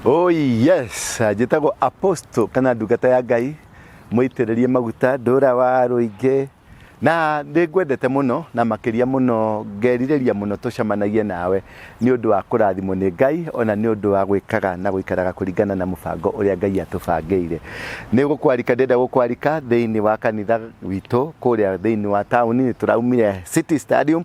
Oh yes, njĩtagwo Apostle kana ndungata ya Ngai mũitĩrĩrie maguta ndũra wa rũingĩ na nĩ ngwendete mũno na makĩria mũno ngerirĩria mũno tũcemanagie nawe nĩ ũndũ wa kũrathimwo nĩ Ngai ona nĩ ũndũ wa gwĩkaga na gũikaraga kũringana na mũbango ũrĩa Ngai atũbangĩire nĩ gũkwarika ndĩenda gũkwarika thĩinĩ wa kanitha witũ kũrĩa thĩinĩ wa taũni nĩ tũraumire City Stadium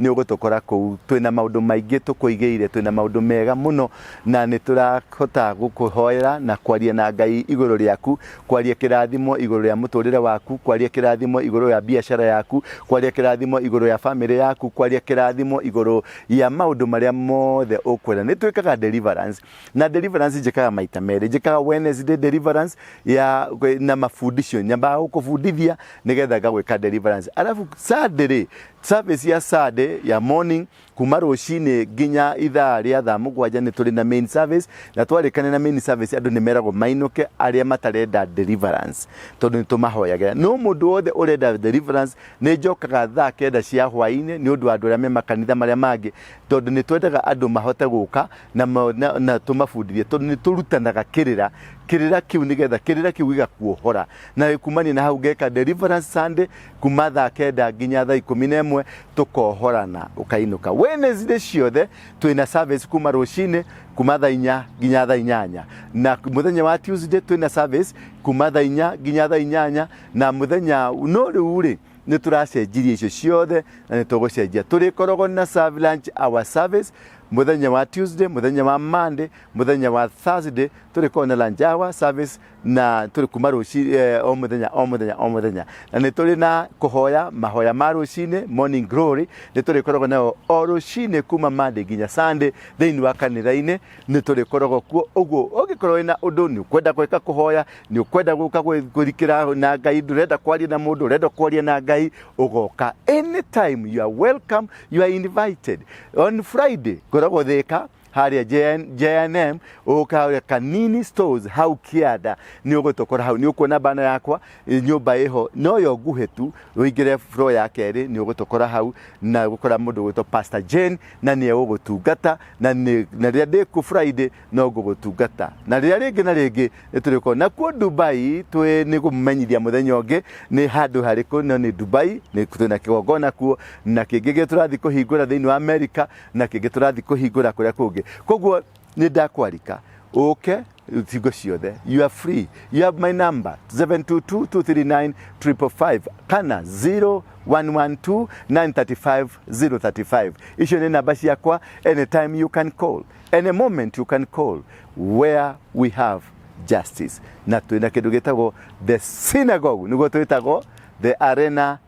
Nĩ ũgũtũkora kũu. Twĩ na maũndũ maingĩ tũkũigĩire. Twĩ na maũndũ mega mũno na nĩ tũrahota gũkũhoera na kwaria na Ngai igũrũ rĩaku, kwaria kĩrathimo igũrũ rĩa mũtũrĩre waku, kwaria kĩrathimo igũrũ rĩa biacara yaku, kwaria kĩrathimo igũrũ rĩa family yaku, kwaria kĩrathimo igũrũ rĩa maũndũ marĩa mothe ũkwenda. Nĩ twĩkaga deliverance na deliverance njĩkaga maita merĩ. Njĩkaga Wednesday deliverance ya na mabundisho. Nyambaga gũkũbundithia nĩgetha ngagwĩka deliverance. Arabu Sunday rĩ, Service ya Saturday ya morning kuma rũcinĩ nginya ithaa rĩa thaa mũgwanja nĩ tũrĩ na main service na twarĩkane na main service andũ nĩ meragwo mainũke arĩa matarenda deliverance tondũ nĩ tũmahoyagĩra no mũndũ wothe ũrenda deliverance nĩ njokaga thaa kenda cia hwaĩ-inĩ nĩ ũndũ wa andũ arĩa me makanitha marĩa mangĩ tondũ nĩ twendaga andũ mahote gũka na, ma- na, na tũmabundithie tondũ nĩ tũrutanaga kĩrĩra kĩrĩra kĩu nĩgetha kĩrĩra kĩu gĩgakuohora na kumania na hau ngeka deliverance Sunday kuma thaa kenda nginya thaa ikumi na ĩmwe tũkohorana ũkainũka Wednesday ciothe twĩna service kuma rũcinĩ kuma thaa inya nginya thaa inyanya na mũthenya wa Tuesday twĩna service kuma thaa inya nginya thaa inyanya na mũthenya no rĩu rĩ nä tå racenjirie icio ciothe na nä tå gå cenjia tå rä koragwo na serve lunch hour service må thenya wa tuesday må thenya wa monday må thenya wa thursday tå rä koragwo na lunch hour service na tũrĩ kuma rũci eh, o mũthenya o mũthenya o mũthenya na nĩ tũrĩ na kũhoya mahoya ma rũcinĩ morning glory nĩ tũrĩkoragwo nayo o rũcinĩ kuma Monday nginya Sunday thĩinĩ wa kanitha-inĩ nĩ tũrĩkoragwo kuo ũguo ũngĩkorwo wĩna ũndũ nĩ ũkwenda gwĩka kũhoya nĩ ũkwenda gũka gwĩ- kũrikĩra na ngai ndũrenda kwaria na mũndũ ũrenda kwaria na ngai ũgoka anytime you are welcome you are invited on friday ngoragwo thĩka harĩa JN, JNM ũka harĩa Kanini Stores hau Kĩanda nĩ ũgũtokora hau nĩ ũkuona bana yakwa ĩ, nyũmba ĩho no yo nguhĩ tu ũingĩre floor ya kerĩ nĩ ũgũtokora hau na gũkora mũndũ gwĩtwo Pastor Jane na nĩ ũgũtungata na nĩ- na rĩrĩa ndĩ ku Friday no ngũgũtungata na rĩrĩa rĩngĩ na rĩngĩ nĩ tũrĩkorwo nakuo Dubai twĩ nĩ kũmenyithia mũthenya ũngĩ nĩ handũ harĩkũ no nĩ Dubai nĩ twĩna kĩgongona kuo na kĩngĩ gĩ tũrathiĩ kũhingũra thĩinĩ wa Amerika na kĩngĩ tũrathiĩ kũhingũra kũrĩa kũngĩ koguo nĩ ndakwarika ũke hingo ciothe you are free you have my number 722239555 kana 0112935035 icio nĩ namba ciakwa anytime you can call any moment you can call where we have justice na twĩna kĩndũ gĩtagwo the synagogue nĩguo twĩtagwo the arena